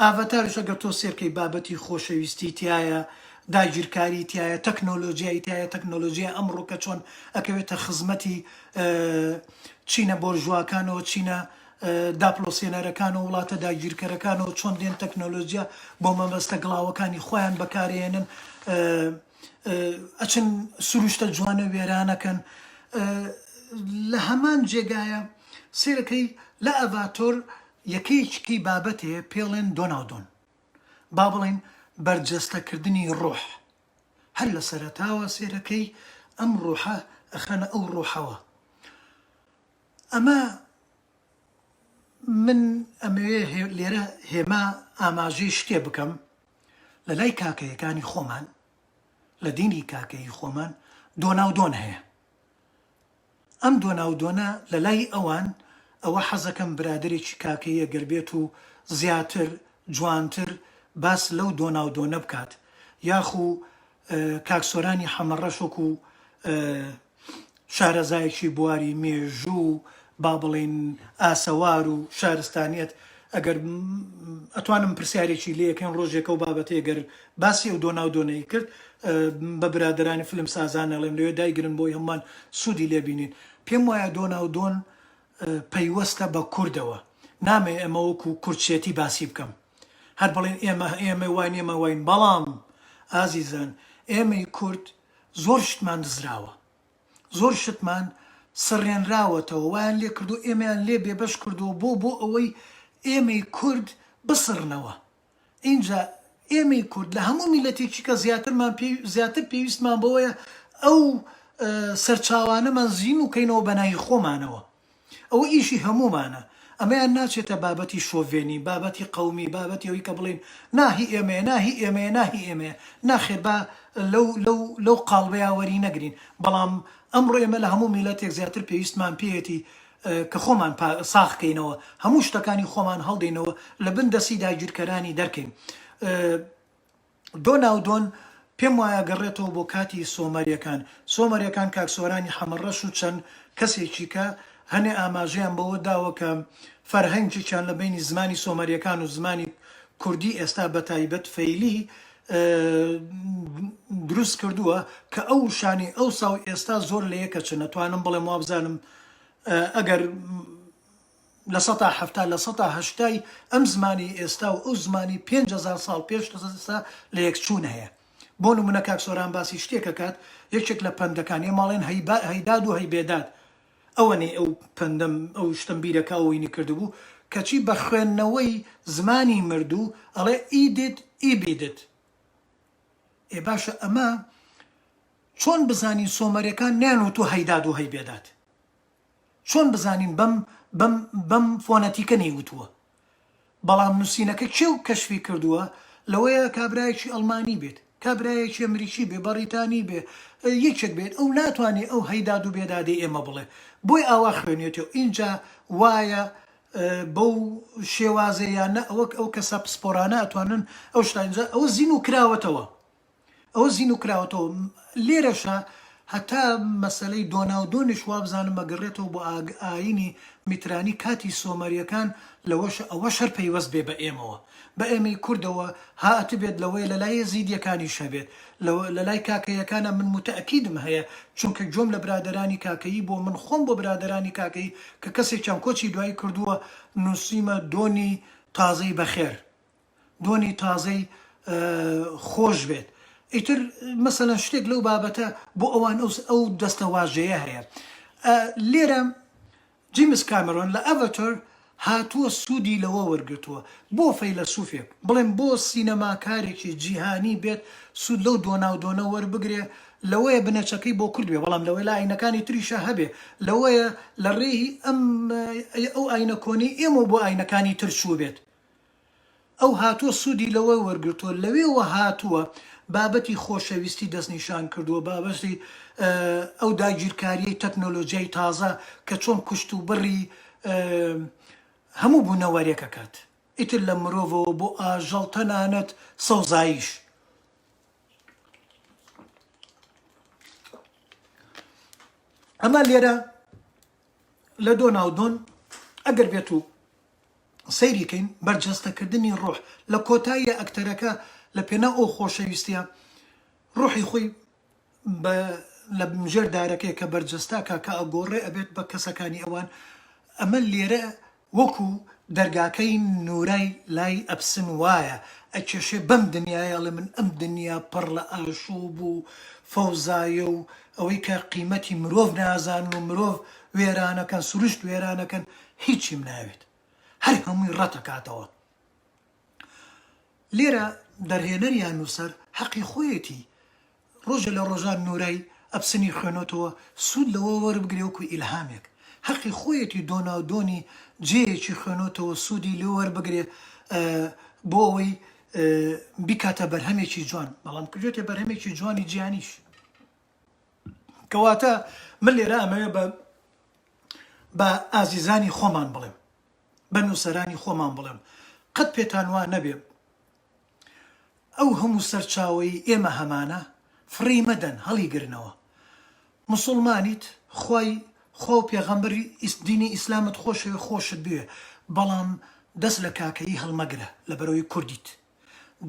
ئاڤاتاریش ئەگەر تۆ سێرکەی بابەتی خۆشەویستی تیایە، داگیرکاری تیایە، تەکنۆلۆجیای تیایە، تەکنۆلۆجیای ئەمڕۆکە چۆن ئەکەوێتە خزمەتی چینە بۆرژواکانەوە، چینە داپڵۆسێنەرەکانەوە، وڵاتە داگیرکەرەکانەوە چۆن دێن تەکنۆلۆجیا بۆ مەبەستە گڵاوەکانی خۆیان بەکارێنن، ئەچن سروشتە جوانە وێرانەکەن. لە هەمان جێگایە سێرەکەی لە ئەڤاتۆر یەکەیەکیی بابەتێ پێڵێن دۆناودۆن، با بڵێین بەرجەستەکردنی ڕۆح، هەر لە سەرەتاوە سێرەکەی ئەم ڕۆحە ئەخەنە ئەو ڕۆحەوە. ئەمە من ئەمەوێ لێرە هێما ئاماژەی شتێ بکەم، لە لای کاکەیەکانی خۆمان، لە دینی کاکەیی خۆمان دۆناودۆن هەیە. ئەم دۆناودۆنە لە لای ئەوان ئەوە حەزەکەم برادەرێکی کاکەیی گەر بێت و زیاتر جوانتر باس لەو دۆناودۆنە بکات یاخو کاک سۆرانی حەمەڕەش وەکو شارەزایەکی بواری مێژوو و با بڵێین ئاسەوار و شارستانیەت ئەگەر ئەتوانم پرسیارێکی لێ کەم ڕۆژێک ئەو بابەتەی گەر باسی ئەو دۆنا و دۆنەی کرد بە برادەرانی فلم سازان ئەڵێم لەوێ دایگرن بۆی هەمووان سوودی لێ بینین پێم وایە دۆنا و دۆن پەیوەستە بە کوردەوە نامەوێ ئەمە وەکو کوردچێتی باسی بکەم هەر بڵێن ئێمە ئێمە واین ئێمە واین بەڵام ئازیزان ئێمەی کورد زۆر شتمان دزراوە زۆر شتمان سڕێنراوەتەوە وایان لێکردووە ئێمەیان لێ بێبەش کردووە بۆ بۆ ئەوەی ئێمەی کورد بسڕنەوە ئینجا ئێمەی کورد لە هەموو میلەتێکی کە زیاترمان پێ زیاتر پێویستمان بەوەیە ئەو سەرچاوانەمان زیین و کەینەوە بەناوی خۆمانەوە. ئەوە ئیشی هەموومانە، ئەمەیان ناچێتە بابەتی شۆڤێنی، بابەتی قەومی، بابەتی ئەوەی کە بڵێین نا هی ئێمەیە، نا هی ئێمەیە، نا هی ئێمەیە. ناخێر با لەو لەو لەو قاڵبەیا وەرینەگرین، بەڵام ئەمڕۆ ئێمە لە هەموو میللەتێک زیاتر پێویستمان پێیەتی کە خۆمان پا ساغ کەینەوە، هەموو شتەکانی خۆمان هەڵدەینەوە، لە بن دەستی داگیرکەرانی دەرکەین. دۆناو دۆن پێم وایە گەڕێتەوە بۆ کاتی سۆمەریەکان سۆمەریەکان کاک سۆرانی حەمە ڕەش و چەن کەسێکی کە هەنێ ئاماژەیان بەوە داوە کە فەرهەنگێکیان لە بەینی زمانی سۆمەریەکان و زمانی کوردی ئێستا بە تایبەت فەیلی دروست کردووە کە ئەو وشانەی ئەوسا و ئێستا زۆر لە یەکە چن ئەتوانم بڵێم وابزانم ئەگەر لە سەتا حەفتا لە سەتا هەشتای ئەم زمانی ئێستا و ئەو زمانی پێنج هەزار ساڵ پێش ئێستا لەیەکچوون هەیە. بۆ نموونە کاک سۆران باسی شتێک ئەکات، یەکێک لە پەندەکان، ئێمە ئەڵێن هەیداد و هەیبێداد، ئەوەنەی ئەو پەندەم ئەو شتەم بیرە کە ئەوینی کردبوو، کەچی بە خوێندنەوەی زمانی مردوو ئەڵێ ئیدد ئیبیدد. ئێ باشە ئەمە چۆن بزانین سۆمەرەکان نەیانوتووە هەیداد و هەیبێداد؟ چۆن بزانین بەم بەم بەم فۆنەتیکە نەیوتووە؟ بەڵام نووسینەکە کێ و کەشفی کردووە؟ لەوەیە کابرایەکی ئەڵمانی بێت، کابرایەکی ئەمریکی بێ، بەڕیتانی بێ، یەکێک بێت، ئەو ناتوانێ ئەو هەی داد و بێدادەی ئێمە بڵێ. بۆی ئاوا خوێنێتێ و ئینجا وایە بەو شێوازەیانە ئەوەک ئەو کەسە پسپۆرانە ئەتوانن ئەو شتە ئینجا ئەوە زین و کراوەتەوە. ئەوە زینوو کراوەتەوە لێرەشە هەتا مەسەلەی دۆناودۆنیش وابزانم ئەگەڕێتەوە بۆ ئاینی میترانی کاتی سۆمەریەکان لەوەشە ئەوە شەر پەیوەست بێ بە ئێمەوە بە ئێمەی کوردەوە هاتبێت لەوەی لە لای زیدیەکانی شەبێت لە لای کاکەیەکانە من متەکیدم هەیە چونکە گوێم لە برادرانی کاکەیی بۆ من خۆم بۆ برادرانی کاکەی کە کەسێکیان کۆچی دوایی کردووە نووسیمە دۆنی تازەی بەخێر دۆنی تازەی خۆش بێت ئیتر مەسەلەن شتێک لەو بابەتە بۆ ئەوان ئەوس ئەو دەستە واژەیە هەیە لێرە جیمس کامرۆن لە ئەڤەتۆر هاتووە سوودی لەوە وەرگتووە بۆ فەیلە سوفێک بڵێن بۆ سینەماکارێکی جیهانی بێت سوود لەو دۆناو دۆنە وەربگرێ لەوەیە بنەچەکەی بۆ کورد بێ بەڵام لەوەی لە ئاینەکانی تریشە هەبێ لەوەیە لە ڕێی ئەم ئەو ئاینە کۆنی ئێمە بۆ ئاینەکانی ترچوو بێت ئەو هاتووە سوودی لەوە وەرگرتووە لەوێوە هاتووە بابەتی خۆشەویستی دەستنیشان کردووە بابەتی ئەو داگیرکاریەی تەکنۆلۆجیای تازە کە چۆن کوشت و بڕی هەموو بوونەوەرێکەکات ئیتر لە مرۆڤەوە بۆ ئاژەڵ تەنانەت سەوزاییش ئەمە لێرە لە دۆناو دۆن ئەگەر بێت و سەیری کەین بەرجەستە کردنی ڕۆح لە کۆتاییا ئەکتەرەکە لە پێناو ئەو خۆشەویستیە ڕۆحی خۆی بە لە ژێر دارەکەی کە بەرجەستە کە کە ئەگۆڕێ ئەبێت بە کەسەکانی ئەوان ئەمە لێرە وەکو دەرگاکەی نورای لای ئەپسن وایە ئەکێشێ بەم دنیایە ئەڵێ من ئەم دنیا پڕ لە ئاشوب و فەوزایە و ئەوەی کە قیمەتی مرۆڤ نازانن و مرۆڤ وێرانەکەن سروشت وێرانەکەن هیچیم ناوێت هەر هەمووی ڕەتەکاتەوە لێرە دەرهێنەر یان نووسەر حەقی خۆیەتی ڕۆژە لە ڕۆژان نورای ئەپسنی خوێنۆتەوە سوود لەوە وەربگرێ وەکو ئیلهامێک حەقی خۆیەتی دۆناو دۆنی جێیەکی خوێنۆتەوە سوودی لێ وەربگرێ بۆ ئەوەی بیکاتە بەرهەمێکی جوان بەڵام کردێتە بەرهەمێکی جوانی جیانیش کەواتە من لێرە ئەمەوێ بە بە ئازیزانی خۆمان بڵێم بە نووسەرانی خۆمان بڵێم قەت پێتان وا نەبێ ئەو هەموو سەرچاوی ئێمە هەمانە فڕی مەدەن هەڵی گرنەوە مسلمانیت خی خۆ و پێغەمبەری ئیسدینی ئیسلامت خۆشەوێ خۆشت بوێ بەڵام دەست لە کاکەیی هەڵمەگرە لە بەرەوەی کوردیت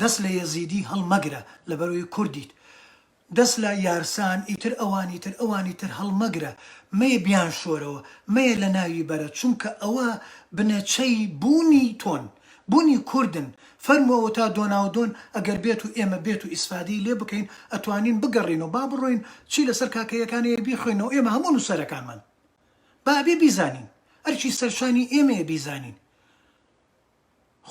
دەست لە یەزیدی هەڵمەگرە لە بەرەوەی کوردیت دەست لە یارسان ئیتر ئەوانی تر ئەوانی تر هەڵمەگرە مەیە بیانشۆرەوە مەیە لەناوی بەرە چونکە ئەوە بنەچەی بوونی تۆن بوونی کوردن فەرموەوە تا دۆناودۆن ئەگەر بێت و ئێمە بێت و ئیسفادەی لێ بکەین ئەتوانین بگەڕێینەوە با بڕۆین چی لەسەر کاکەیەکان هەیە بیخوێنەوە ئێمە هەموو نووسەرەکانمان با ئەبێ بیزانین ئەرکی سەرشانی ئێمەیە بیزانین.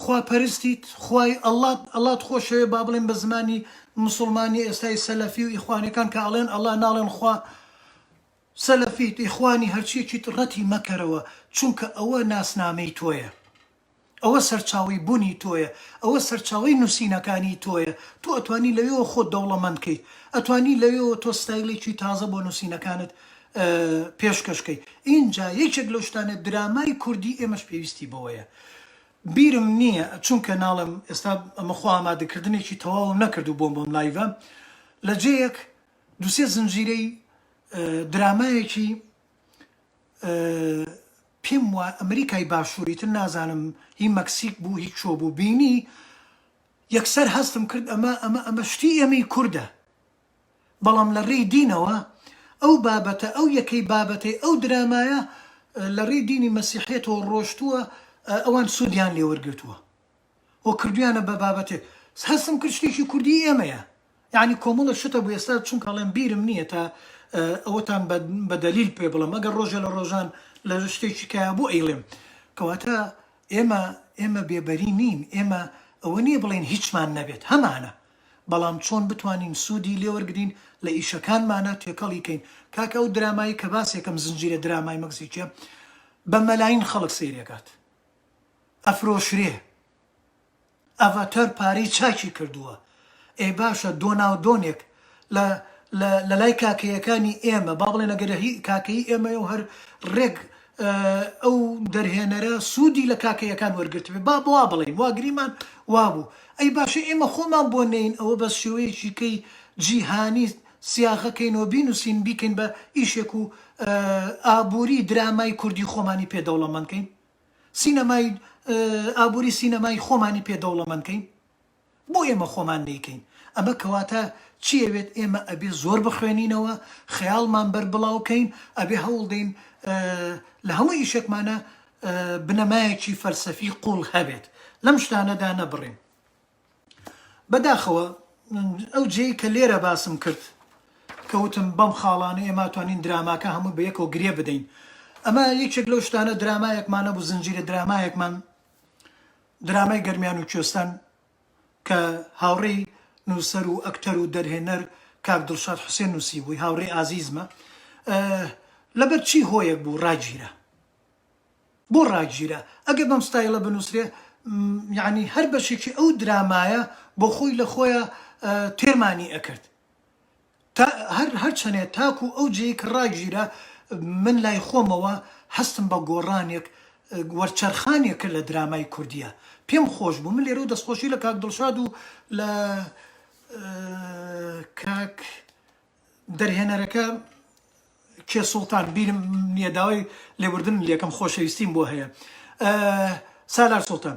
خوا پەرستیت خوای اللە اللەت خۆشەوێ با بڵێم بە زمانی موسڵمانی ئێستای سەلەفی و ئیخوانەکان کە ئەڵێن اللە ناڵێن خوا سەلەفیت ئیخوانی هەرچیەکیت ڕەتی مەکەرەوە چونکە ئەوە ناسنامەی تۆیە ئەوە سەرچاوەی بونی تۆیە ئەوە سەرچاوەی نوسینەکانی تۆیە تۆ ئەتوانی لەوێوە خۆت دەوڵەمەند کەیت ئەتوانی لەوێوە تۆ ستایلێکی تازە بۆ نوسینەکانت پێشکەش کەی ئینجا یەکێک لەو شتانە درامای کوردی ئێمەش پێویستی بەوەیە بیرم نیە چونکە ناڵێم ئێستا ئەمە خۆ ئامادەکردنێکی تەواوم نەکردو بۆم بەم لایڤە لە جێیەک دوسێ زنجیرەی درامایەکی پێم وا ئەمریکای باشوری تر نازانم هی مەکسیک بوو هی چۆ بوو بینی یەکسەر هەستم کرد ئەمە ئەمە ئەمە شتی ئێمەی کوردە بەڵام لە ڕێی دینەوە ئەو بابەتە ئەو یەکەی بابەتەی ئەو درامایە لە ڕێی دینی مەسیحیەتەوە ڕۆشتووە ئەوان سوودیان لێ وەرگرتووە و کردویانە بە بابەتێک هەستم کرد شتێکی کوردی ئێمەیە یعنی کۆمەڵە شتە بوو ئێستا چونکە ئەڵێم بیرم نییە تا ئەوەتان بە دەلیل پێ بڵم ئەگەر ڕۆژێ لە ڕۆژان لە شتێکی کە بوو ئەیڵێم کەواتە ئێمە ئێمە بێبەری نین ئێمە ئەوە نییە بڵێن هیچمان نەبێت هەمانە بەڵام چۆن بتوانین سودی لێوەرگرین لە ئیشەکانمانا تێکەڵی کەین کاکە ئەو درامایەی کە باسیەکەم زنجیرە درامای مکزیکیە بە مەلاین خەڵک سەیرەکات ئەفرۆشرێ ئەڤەتەر پارەی چاکی کردووە ئێ باشە دۆناو دۆنێک لە لە لەلای کاکەیەکانی ئێمە با بڵێن ئەگەر هی کاکەیی ئێمەیە و هەر ڕێک ئەو دەرهێنەرە سودی لە کاکەییەکان وەرگرتبێ با وا بڵێین واگریمان وابوو ئەی باشە ئێمە خۆمان بۆ نێین ئەوە بە شێوەیەکی کەی جیهانی سیاغە کەین و بینوسین بیکەین بە ئیشێک و ئابوری درامای کوردی خۆمانی پێ دەوڵەمەند کەین سینەمای ئابوری سینەمای خۆمانی پێ دەوڵەمەند کەین بۆ ئێمە خۆمان نەیکەین ئەمە کەواتە چی ئەوێت ئێمە ئەبێ زۆر بخوێنینەوە خەیاڵمان بەر بڵاو کەین ئەبێ هەوڵدەین لە هەموو ئیشێکمانە بنەمایەکی فەلسەفی قوڵ هەبێت لەم شتانەدا نەبڕین بەداخەوە ئەو جێی کە لێرە باسم کرد کەوتم بەم خاڵانە ئێماتوانین دراماکە هەموو بە یەکەوە گرێ بدەین ئەمە یەکێک لەو شتانە درامایەکمانە بوو زنجیرە درامایەکمان درامای گەرمیان و کوێستان کە هاوڕێی نووسەر و ئەکتەر و دەرهێنەر کاک دڵشاد حوسێن نووسیبووی، هاوڕێی ئازیزمە، لەبەر چی هۆیەک بوو ڕاگیرا؟ بۆ ڕاگیرا؟ ئەگەر بەم ستایڵە بنووسرێ یەعنی هەر بەشێکی ئەو درامایە بۆ خۆی لە خۆیان تێرمانی ئەکرد. تا هەر هەر چەنێ تاکو ئەو جێی کە ڕاگیرا من لای خۆمەوە هەستم بە گۆڕانێک وەرچەرخانێک کرد لە درامای کوردیا پێم خۆش بوو من لێرەو دەستخۆشی لە کاک دڵشاد و لە کاک دەرهێنەرەکە کێ سوڵتان بیرم نیە داوای لێبوردنت لێکەم خۆشەویستیم بۆ هەیە سالار سوڵتان.